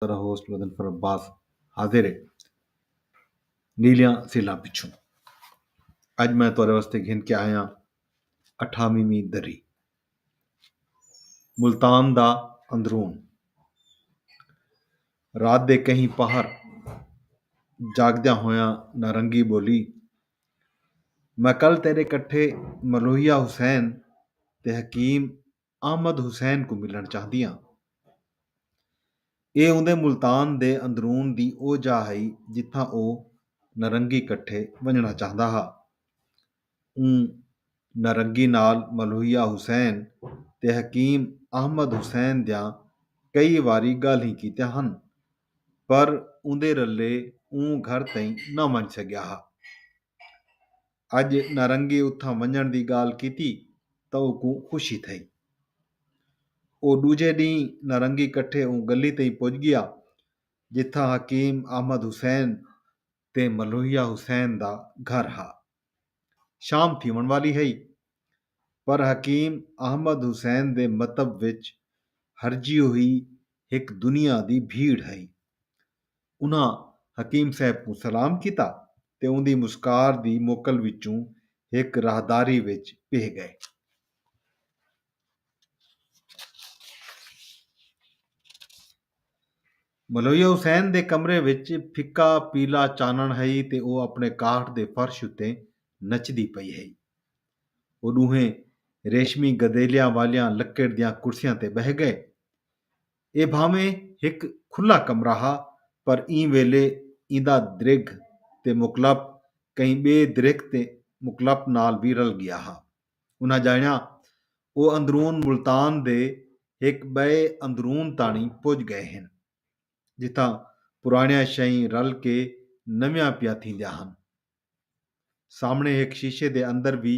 ذرا ہوسٹ مظفر عباس حاضر ہے نیلیاں سیلاں پچھوں اج میں تورے واسطے گھن کے آیا اٹھاویویں دری ملتان دا اندرون رات دے کہیں پہر جاگدیا ہویا نارنگی بولی میں کل تیرے کٹھے ملوہیا حسین تے حکیم احمد حسین کوں ملݨ چاہندیاں۔ ایہ اوندے ملتان دے اندرون دی او جاہ ہئی جتھاں او نرنگی کٹھے ونڄݨا چاہندا ہا۔ اوں نرنگی نال ملوحیہ حسین تے حکیم احمد حسین دیاں کئی واری ڳالھیں کیتیاں ہن پر اوندے رلے اوں گھر تئیں نہ ونڄ سڳیا ہا۔ اڄ نارنگے اتھاں ونڄݨ دی ڳالھ کیتی تاں او کوں خوشی تھئی۔ او ݙوجھے ݙینہہ نارنگی کٹھے اوں ڳلی تئیں پڄ ڳیا جتھاں حکیم احمد حسین تے ملوہیا حسین دا گھر ہا۔ شام تھیوݨ والی ہئی پر حکیم احمد حسین دے مطب وچ ہرجی ہوئی ہک دنیا دی بھیڑ ہئی۔ انہاں حکیم صاحب کوں سلام کیتا تے اوندی مسکار دی موکل وچوں ہک راہداری وچ پیہہ ڳئے۔ ملویہ حسین دے کمرے وچ پھکا پیلا چانݨ ہئی تے او اپݨے کاٹھ دے فرش اتے نچدی پئی ہئی۔ او ݙوہیں ریشمی گدیلیاں والیاں لکڑ دیاں کرسیاں تے ٻہہ ڳئے۔ اے بھانویں ہک کھلا کمرہ ہا پر ایں ویلے ایندا درگھ تے مکلپ کہیں ٻئے درگھ تے مکلپ نال وی رل ڳیا ہا۔ انہاں ڄاݨیا او اندرون ملتان دے ہک ٻئے اندرون تاݨی پڄ ڳئے ہن جتھاں پراݨیاں شئیں رل کے نویاں پیاں تھیندیاں ہن۔ سامنڑے ہک شیشے دے اندر وی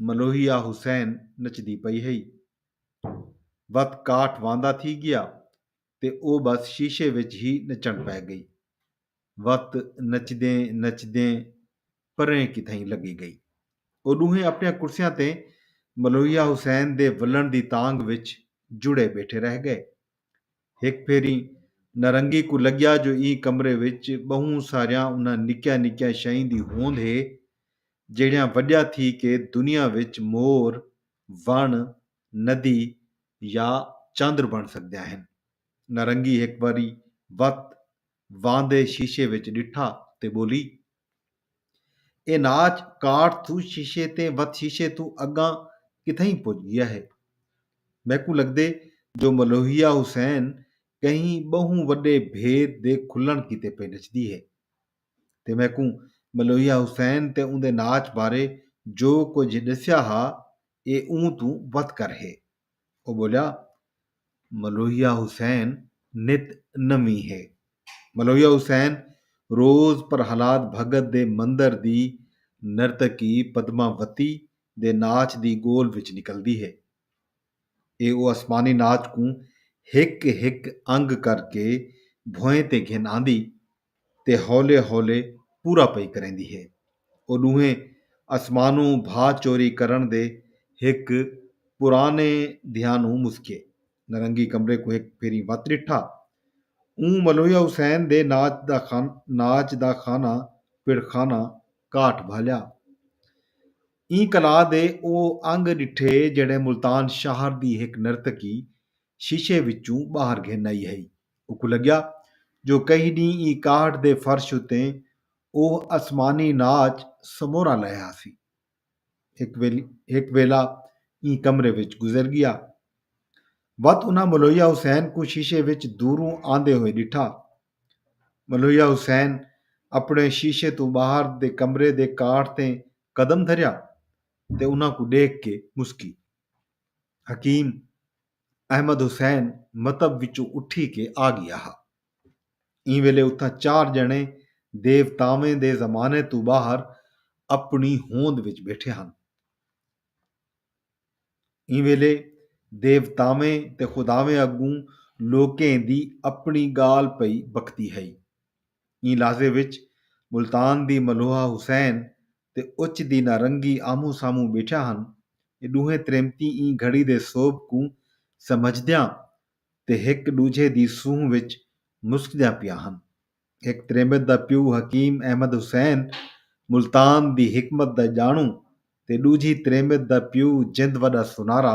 ملوہیا حسین نچدی پئی ہئی۔ وت کاٹھ واندا تھی گیا تے او بس شیشے وچ ہی نچنڑ پے گئی۔ وت نچدیں نچدیں پریں کتھائیں لگی گئی۔ او ڈوہیں اپنڑیاں کرسیاں تے ملوہیا حسین دے ولنڑ دی تانگھ وچ جڑے بیٹھے رہ گئے۔ ہک بھیری نارنگی کوں لگیا جو ایں کمرے وچ بہوں ساریاں انہاں نکیاں نکیاں شئیں دی ہوند ہے جیڑھیاں وڈیاں تھی کے دنیا وچ مور، وݨ، ندی یا چندر بݨ سڳدیاں ہن۔ نارنگی ہک واری وت واندے شیشے وچ ڈٹھا تے بولی۔ اے ناچ کاٹ تھو شیشے تیں وت شیشے توں اگاں کتھئیں پج گیا ہے۔ میکوں لگدے جو ملوہیا حسین کہیں بہوں وڈے بھید دے کھلن کیتے پئے نچدی ہے۔ تے میکوں ملوہیا حسین تے اوندے ناچ بارے جو کجھ ڈسیا ہا اے اوں توں وت کر ہے۔ او ٻولیا ملوحیا حسین نت نویں ہے۔ ملوحیا حسین روز پرہلاد بھگت دے مندر دی نرتکی پدما وتی دے ناچ دی گول وچ نکلدی ہے۔ ایہ او آسمانی ناچ کوں ہک ہک انگ کر کے بھوئیں تے گھن آندی تے ہولے ہولے پورا پئی کریندی ہے۔ او ݙوہیں اسمانوں بھا چوری کرݨ دے ہک پراݨے دھیانوں مسکیے۔ نرنگی کمرے کوں ہک پھیری وت ݙٹھا۔ اوں ملویا حسین دے ناچ دا ناچ دا خانہ پڑ خانہ کاٹ بھالیا۔ ایں کلا دے او انگ ݙٹھے جیڑھے ملتان شہر دی ہک نرتکی شیشے وچوں ٻاہر گھن آئی ہئی۔ اوکوں لڳیا جو کئی ݙینہہ ایں کاہٹ دے فرش اتے اوہ اسمانی ناچ سمورا لہہ آسی۔ ہک ویل ہک ویلا ایں کمرے وچ گزر ڳیا۔ وت انہاں ملویا حسین کوں شیشے وچ دوروں آندے ہوئے ݙٹھا۔ ملویا حسین اپݨے شیشے توں ٻاہر دے کمرے دے کاہٹ تے قدم دھریا تے انہاں کوں ݙیکھ کے مسکی۔ حکیم احمد حسین متب وچوں اٹھی کے آ گیا ہا ایں ویلے اتھاں چار جنے دیوتاویں دے زمانے تو باہر اپنی ہوند وچ بیٹھے ہن ایں ویلے دیوتاویں تے خداویں اگوں لوکیں دی اپنی گال پئی بکتی ہئی ایں لحظے وچ ملتان دی ملوحہ حسین تے اچ دی نارنگی آمہوں سامہوں ٻیٹھیاں ہن۔ اے ݙوہیں تریمتیں ایں گھڑی دے سوبھ کوں سمجھدیاں تے ہک ݙوجھے دی سونہہ وچ مسکدیاں پیاں ہن۔ ہک تریمت دا پیو حکیم احمد حسین ملتان دی حکمت دا ڄاݨوں تے ݙوجھی تریمت دا پیو جند وݙا سونارا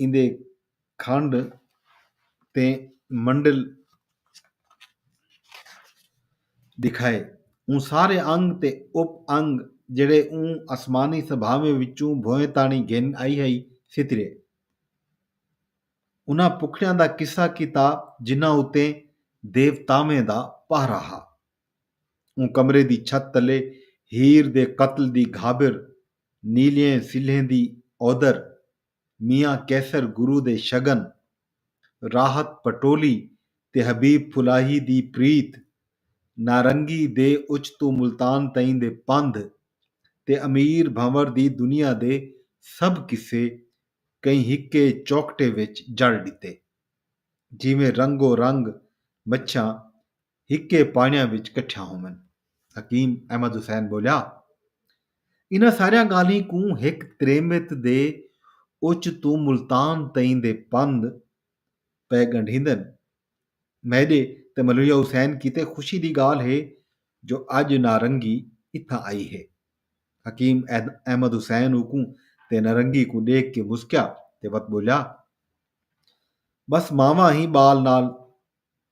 ایندے کھنڈ تے منڈل ݙکھائے۔ اوں سارے انگ تے اپ انگ جیڑھے اوں اسمانی سبھاویں وچوں بھوئیں تاݨی گھن آئی ہئی سترے۔ انہاں پکھڑیاں دا قصہ کیتا جنہاں اتے دیوتاویں دا پہرا ہا۔ اوں کمرے دی چھت تلے ہیر دے قتل دی گھابر، نیلیئیں سلھیں دی اودر، میاں قیصر گرو دے شگن، راحت پٹولی تے حبیب پھلاہی دی پریت، نارنگی دے اچ توں ملتان تئیں دے پندھ تے امیر بھنور دی دنیا دے سبھ قصے کہیں ہکے چوکٹے وچ جڑ ݙتے۔ جیویں رنگو رنگ مچھاں ہکے پاݨیاں وچ کٹھیاں ہوون۔ حکیم احمد حسین ٻولیا، انہاں ساریاں ڳالھیں کوں ہک تریمت دے اچ توں ملتان تئیں دے پندھ پئے ڳنڈھیندن۔ میݙے تے ملویہ حسین کیتے خوشی دی ڳالھ ہے جو اڄ نارنگی اتھاں آئی ہے۔ حکیم احمد حسین اوکوں تے نارنگی کوں ݙیکھ کے مسکیا تے وت ٻولیا، ٻس ماواں ہی ٻال نال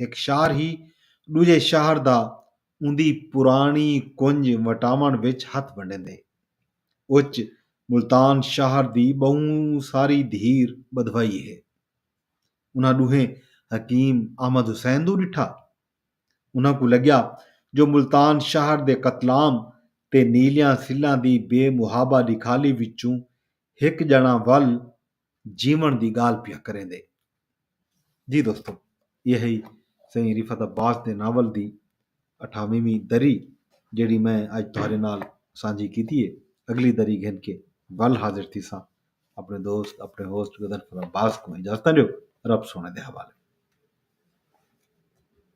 ہک شہر ہی ݙوجھے شہر دا اوندی پراݨی کنج وٹاوݨ وچ ہتھ ونڈیندے۔ اچ ملتان شہر دی ٻہوں ساری دھیر ٻدھوائی ہے۔ انہاں ݙوہیں حکیم احمد حسین دو ݙٹھا۔ انہاں کوں لڳیا جو ملتان شہر دے قتلام تے نیلیاں سلھاں دی بے محابہ ݙکھالی وچوں ہک ڄݨاں ول جیوݨ دی ڳالھ پیا کریندے۔ جی دوستو ایہ ہئی سئیں رفعت عباس دے ناول دی اٹھاویں ویں دری جیڑھی میں اڄ تہاݙے نال سانجھی کیتی ہے۔ اڳلی دری گھن کے ول حاضر تھیساں۔ اپݨے دوست اپݨے ہوسٹ غضنفر عباس کوں اجازتاں ݙیو۔ رب سوہݨے دے حوالے۔